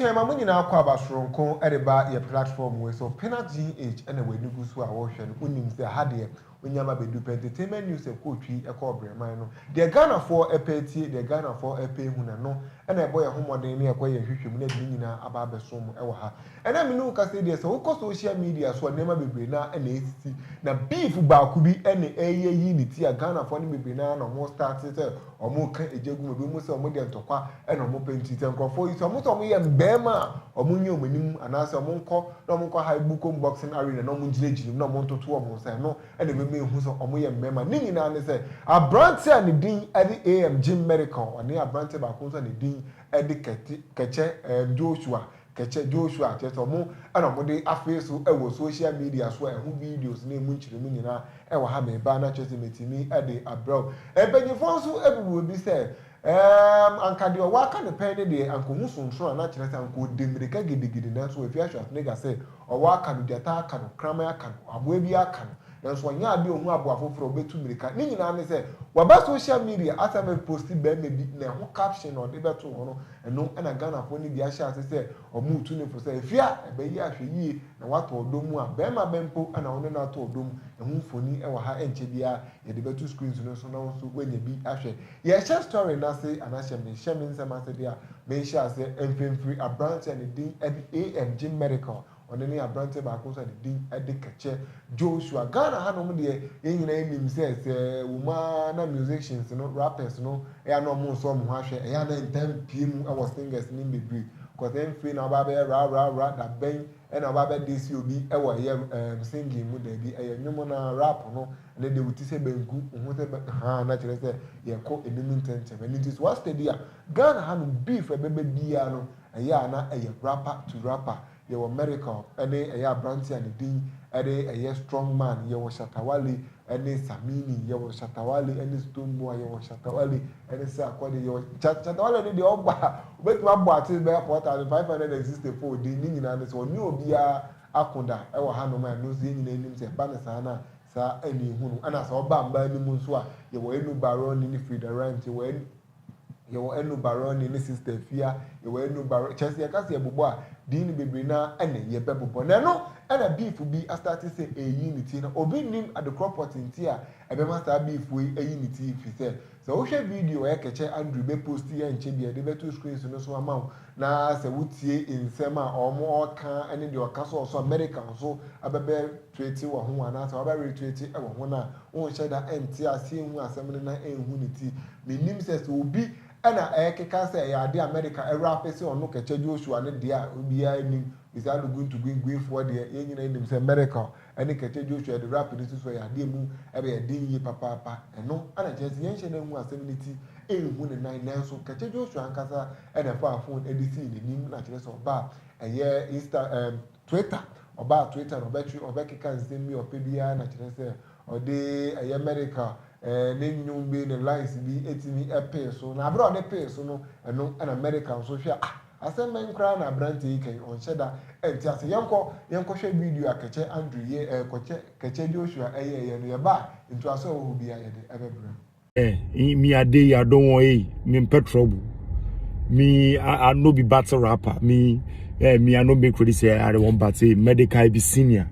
Abusua ɛma mo nyinaa kɔ aba soronko ɛde ba yɛ platform wei so Peanuts GH ɛna w'ani gu so a wohwɛ no wonim sɛ ha deɛ onyama bɛdu pɛ entertainment news ɛkɔ otwi ɛkɔ ɔbrɛman no deɛ Ghanafoɔ ɛpɛ atie deɛ Ghanafoɔ ɛpɛ ahu na ɛno ɛna ɛbɔ yɛn ho mmɔden ne ɛkɔ yɛn nhwehwɛmu na ɛde ne nyinaa aba abɛso mo ɛwɔ ha Ɛna me ne wo kasa yi deɛ sɛ wo kɔ social media so a nneɛma bebree no ara na ɛresisi na beef baako bi na ɛreyɛ ayi ne ti a Ghanafoɔ no bebree no ara na wɔn starte sɛ wɔn reka egya gu mu ebinom sɛ wɔn deɛ ntɔkwa na wɔn pɛ nti sɛ nkorɔfoɔ yi sɛ wɔn sɛ wɔn yɛ mmarima a wɔn nyɛ wɔn anim anaasɛ wɔn nkɔ na wɔn nkɔ hae bukom boxing arena na wɔn gyina gyina mu na wɔn ntoto wɔn nsa ɛno na ɛbɛma ehu sɛ wɔn yɛ mmarima ne nyinaa ne sɛ abranteɛ a ne din ɛde AM Jim Medical ɔne abranteɛ baako nso a ne din ɛde kɛte kɛkyɛ ɛɛm Joshua Kɛkyɛ Joshua, kyerɛ sɛ ɔmo na ɔmo de afee so wɔ social media so a ɛho videos ne emu nkyeremu nyina ɛwɔ ha meba na kyerɛ sɛ metumi de abrɛ wo. Mpanyinfoɔ nso bubu ebi sɛ ɛɛm anka deɛ ɔwɔ aka no pɛn ne deɛ anka ohu sonsono a na kyerɛ sɛ anka ɔdi mmirika gidigidi nanso wafi ahwɛ Schwarzenegger sɛ ɔwɔ aka no, gyata aka no, kraman aka no, aboa bi aka no nanso ɔnyɛ adeɛ ɔhu aboa afoforɔ a ɔbɛtu mmirika ne nyinaa ne sɛ waba social media asɛ mɛposti barima bi na ɛho caption a ɔde bɛto hɔ no Ɛno na Ghanafoɔ no bi ahyɛ ase sɛ wɔretu no fo sɛ afie a ɛbɛyɛ ahwɛyie na wɔatɔ ɔdɔ mu a barima bɛn mpo na wo ne no atɔ ɔdɔ mu. Ɛho mfoni wɔ ha ɛnkyɛ biara yɛde bɛto screens no so na wo nso woanya bi ahwɛ. Yɛrehyɛ story no ase anaa hyɛ menhyɛ me nsɛm ase deɛ a menhyɛ aseɛ mfemfiri aberanteɛ a ne din de AM Jim Medical. Ɔno ne aberanteɛ baako nso a ne din de Kɛkyɛ Joshua. Ghana hanom deɛ, yɛn nyinaa nim sɛ sɛ wɔn ara na musicians no, rappers no, ɛyɛ a na wɔnsɔ wɔn ho ahwɛ. Ɛyɛ a na ntaa mpue mu wɔ singers no mu bebree. Cause ɛmfei na wobaa bɛyɛ ra ra ra, da bɛn na wobaa bɛ disse obi wɔ ɛyɛ ɛɛm singing mu, daabi, ɛyɛ nnwom no ara, rap no, ɛnɛ deɛ wo ti sɛ banku, wo ho sɛ bɛ, haa, na kyerɛ sɛ yɛrekɔ anim ntɛntɛm. Ɛno nti sɛ woa study a, Ghana hanom beef a ɛbɛba biara no, Ɛyɛ a na ɛyɛ Rapper to Rapper, yɛwɔ Miracle ne ɛyɛ aberanteɛ a ne din de ɛyɛ Strong Man, yɛwɔ Shatta Wale ne Samini, yɛwɔ Shatta Wale ne Stone Boy, yɛwɔ Shatta Wale ne Sarkodie, yɛwɔ Sha Shatta Wale no deɛ ɔba a ɔbɛtumi abɔ artist bɛyɛ four thousand five hundred and sixty four din, ne nyinaa ne sɛ ɔne obiara ako da wɔ hanom a ɛno nso yɛn nyinaa nim sɛ ɛba no saa no a saa ɛne ɛhunu, ɛna sɛ ɔba mmaa no mu nso a yɛwɔ Anu Baroni ne Frida Rhymes, yɛwɔ Anu. yɛwɔ ɛnu barɔ ne ne sista afia yɛwɔ ɛnu barɔ kyɛn sɛ yɛka sɛ yɛbobɔ a din no bebree na ɛna yɛbɛ bobɔ na ɛno ɛna beef bi asate sɛ ɛyi ne ti na obi nim adekorɔ pɔte nti a ɛbɛma saa beef wei ayi ne ti firi sɛ sɛ wohwɛ video ɔyɛ kɛkyɛ Andrew bɛ post yɛ nkyɛ bia yɛde bɛto screens no so ama wo na sɛ wotie nsɛm a ɔmo ɔka ɛne deɛ ɔka sɛ ɔso America nso abɛbɛ tuatua wɔ ho anaasɛ wabɛwere tuatua wɔ ho no a, wonhyɛ da nte aseɛ nhu asɛm no na ɛnhu ne ti. Mennim sɛ sɛ obi na ɛrekeka sɛ ɛyɛ adeɛ a Amerika ɛwura afe sɛ ɔno kɛkyɛ Joshua no deɛ a, obiara nnim. Bisa Aluguntu Guinguinfoɔ deɛ, yɛn nyinaa nim sɛ Amerika ne kɛkyɛ Joshua de rap no si so a, ɛyɛ adeɛ a ɛmu bɛyɛ den yie papaapa. Ɛno na ɛkyerɛ sɛ yɛnhyɛ da nhu asɛm no ti, nhu ne nan. Nanso kɛkyɛ Joshua ankasa na ɛfaa fon de sii n'anim na kyerɛ sɛ ɔba a ɛyɛ Insta, ɛɛ, Twitter, ɔbaa Twitter no ɔbɛtwe ɔbɛkeka nsɛm bi a ɔpɛ biara na kyerɛ sɛ ɔde ɛyɛ medical eh, ne nnwom bi ne lines bi ɛtumi ɛpee so na aberɛ a ɔde pee so no ɛno ɛna medical nso hwɛ ah asɛm bɛn koraa na aberanteɛ yi kɛn ɔnhyɛ da ɛnte ase yɛnkɔ yɛnkɔhwɛ video a Kɛkyɛ Andrew yɛ eh, kɔkyɛ Kɛkyɛ Joshua ɛyɛɛyɛ no yɛba a ntoaso a ɛwɔ hɔ biara yɛde ɛbɛbrɛ. Eh, me I dey, I don't want, hey, me pet trouble. Me, I, I no be battle rapper. Me, eh, me, I no make ready say I want but hey, medical be senior.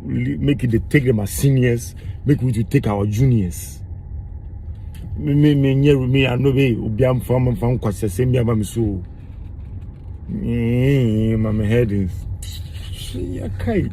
Make it they take them as seniors, make we to take our juniors. Me, me, me, me, me, I no be, obi am fam fam kwasese me aba me so. Yee, ma me head nhyia kai.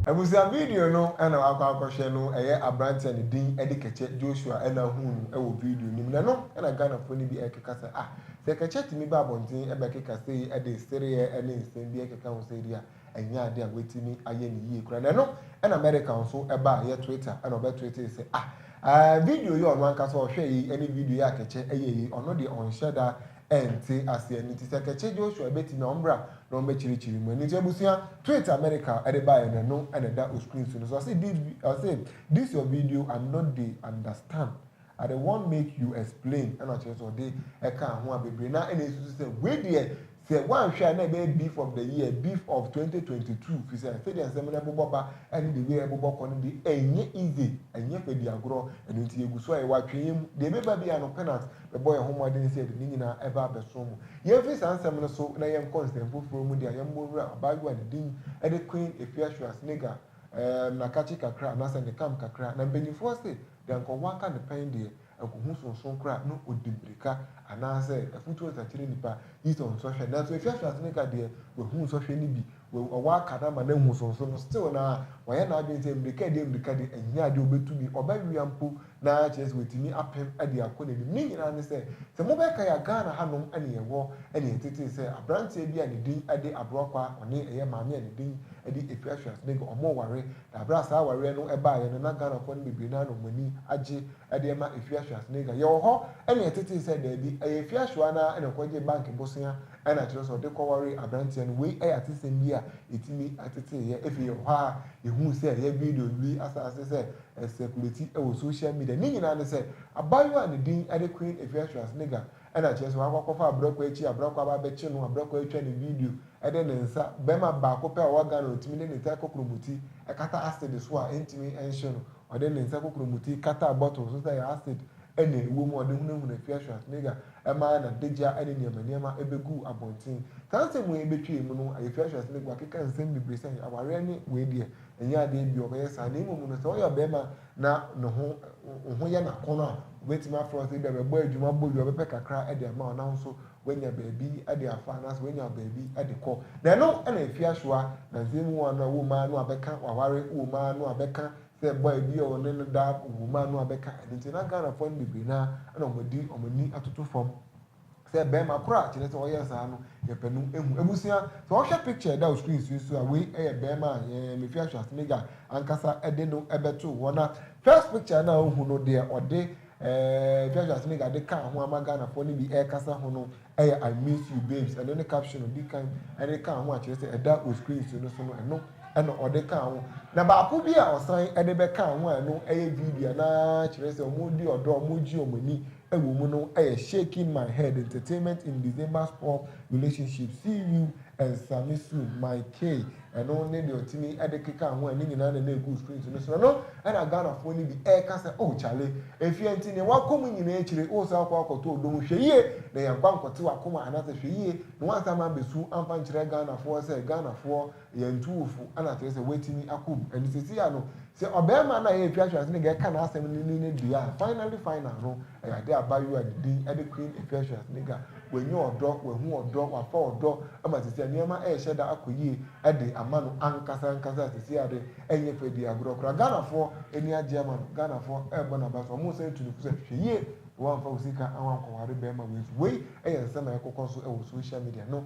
Abusua video no na wakɔ akɔhwɛ no ɛyɛ aberante a ne din de Kɛkyɛ Joshua na ahuu no wɔ video no mu na ɛno na Ghanafoɔ no bi rekeka sɛ ah sɛ Kɛkyɛ tumi ba abɔnten bɛkeka sei de sereɛ ne nsɛm bi keka ho sɛ deɛ Ɛnyɛ ade a wɔatumi ayɛ no yie koraa. Na ɛno na America nso baa yɛ Twitter na ɔbɛtweetee sɛ, Ah, eh, video yi a ɔno ankasa ɔhwɛɛ yi ne video yi a Kɛkyɛ yɛe yi, ɔno deɛ ɔnhyɛ da nte aseɛ. Ɛno nti sɛ Kɛkyɛ Joshua bɛtumi a, ɔmmra na ɔmmɛkyerɛkyerɛ mu. Ɛno nti abusua, tweet a America de baeɛ no, ɛno na ɛda o screen so no. So ɔse, This, ɔse, this your video, I no dey understand But the one make you explain ɛna ɔkyerɛ sɛ ɔde ɛkaa ho a bebree no ara na ɛsusu sɛ wei deɛ sɛ woanhwɛ a na ɛbɛyɛ beef of the year, beef of twenty twenty two firi sɛ sɛdeɛ nsɛm no ɛbobɔ ba ɛne the way ɛbobɔ kɔ no deɛ ɛnyɛ easy, ɛnyɛ fɛ di agorɔ ɛno nti yɛgu so a yɛwɔ atweneɛ mu deɛ ɛbɛba biara no Penax bɛbɔ yɛn ho mmɔden sɛ yɛde ne nyinaa ɛba abɛso mo. Yɛmfiri saa nsɛm no so na yɛnkɔ nsɛm foforɔ mu deɛ a yɛmmɔ nwura abaayewa a ne din ɛde Queen Efia Schwarzenegger ɛɛm na kakye kakra anaasɛ ne kam kakra na mpanyinfoɔ se Deɛ anka ɔwɔ aka ne pɛn deɛ, anka ɔhu sonsono koraa na ɔdi mmirika, anaasɛ afutuo nsa kyerɛ nnipa, gye sɛ ɔnsɔhwɛ. Nanso ɛfiri afiase no ka deɛ, wahu nsɔhwɛ no bi, wa, ɔwɔ aka no ama no ahu sonsono, still no ara, wayɛ n'adwene sɛ mmirika deɛ mmirika deɛ, ɛnyɛ adeɛ a ɔbɛtumi, ɔbɛwea mpo na kyerɛ sɛ watumi apem de akɔ n'anim. Ne nyinaa ne sɛ, sɛ mobɛkae a, Ghana hanom ne yɛwɔ ne yɛn tetee sɛ, aberanteɛ bi a ne din de Abrɔkwaa, ɔne ɛyɛ maame a ne din de Afiafiasenega, wɔware Na berɛ a saa awareɛ no baeɛ no, na Ghanafoɔ no bebree no ara na wɔn ani agye de rema Efiahwea Sneijah. Yɛwɔ hɔ na yɛtetee sɛ daabi, ɛyɛ Efiahwea no ara na ɔkɔgyee bank bosea na kyerɛ sɛ ɔde kɔwaree aberanteɛ no. Wei yɛ atesɛm bi a ɛtumi tetee yɛn. Afei yɛwɔ hɔ ara a yɛhuu sɛ ɛyɛ video Louis Asase sɛ ɛsɛkuleti wɔ social media. Ne nyinaa ne sɛ, abaayewa a ne din de Queen Efiahwea Sneijah Ɛna kyerɛ sɛ wakɔ akɔfa abrɛkɔ akyi, abrɛkɔ aba abɛkye no, abrɛkɔ atwa no video de ne nsa, bɛrima baako pɛ a ɔwɔ Ghana a ɔtumi de ne nsa kɔkoro mu ti kata acid so a ɛntumi nhye no, ɔde ne nsa kɔkoro mu ti kataa bottle so sɛ ɛyɛ acid na ɛwɔ mu a ɔde hunahuna Pia Schwarzenegger maa n'adagya ne nneɛma nneɛma bɛguu abɔnten. Saa nsɛm wei a ɛbɛtwa yi mu no, Pia Schwarzenegger wakeka nsɛm bebree sɛ awareɛ ne wei deɛ ɛnyɛ adeɛ bi a ɔbɛyɛ saa na mmom no sɛ ɔyɛ ɔbarima na ne ho wo ho yɛ no akɔnnɔ a, wobɛtumi afrɛ wo sɛ ebia bɛbɔ adwuma bɔ yie, ɔbɛpɛ kakra de ama wo na wo nso woanya baabi de afa anaasɛ woanya baabi de kɔ. Na ɛno na ɛfi asoa na nsɛm mu wɔn a wom ara no abɛka w'aware wom ara no abɛka sɛ bɔ a ebi a ɔne no da wom ara no abɛka. Ɛno nti na Ghanafoɔ no bebree no ara na wɔde wɔn ani atoto fam. Sɛ bɛɛma koro a kyerɛ sɛ ɔyɛ saa no yɛ pɛ no ehu. Ebusua sɛ ɔhwɛ picture ɛda screen so yi so a wei yɛ bɛɛma a yɛn Mefi Ahweasemega ankasa de no bɛtoo hɔ na first picture no a ohu no deɛ ɔde eh Mefi Ahweasemega de kaa ho ama Ghanafoɔ no bi ɛrekasa ho no yɛ I miss you babes ɛno ne caption odi kan ɛde kaa ho a kyerɛ sɛ ɛda o screen so no so no ɛno ɛna ɔde kaa ho na baako bi a ɔsan ɛde bɛkaa ho a ɛno ɛyɛ video na kyerɛ sɛ wɔn di ɔdɔ wɔn gye wɔn ani wɔ mu no yɛ Shaking My Head, Entertainment in December's Poor Relationship, See You and Sammy Soon, My Kay, ɛno ne deɛ ɔtumi de kekaa ho a ne nyinaa na na ɛgu screen so no so. Ɛno na Ghanafoɔ no bi reka sɛ, Oh Charlie, ɛfie nti deɛ woakɔ mu nyinaa akyire no, woresan akɔ akɔto ɔdɔ mu, hwɛ yie na yɛamfa nkɔte w'akoma anaasɛ hwɛ yie na woansan amma abɛsu amfa nkyerɛ Ghanafoɔ sɛ Ghanafoɔ Yɛn tu wo fo na kyerɛ sɛ woatumi ako mu. Ɛnde seesei a no, sɛ ɔbarima no a yɛn atwa ahyɛase no nka ɛka n'asɛm no ni no deɛ a, finally final no, ɛyɛ ade a abaayewa a ne din de Queen atwa ahyɛase no ka. Wanya ɔdɔ, wahu ɔdɔ, wafa ɔdɔ ama seesei a nneɛma rehyɛ da akɔ yie de ama no ankasa ankasa a seesei a de, ɛnyɛ fɛ di agorɔ koraa. Ghanafoɔ ani agye ama no. Ghanafoɔ rebɔ n'aba so. Wɔresan atu no fo sɛ, hwɛ yie na woamfa wo sika wankɔware barima wei so. Wei yɛ nsɛm a ɛrekɔkɔ so wɔ social media no.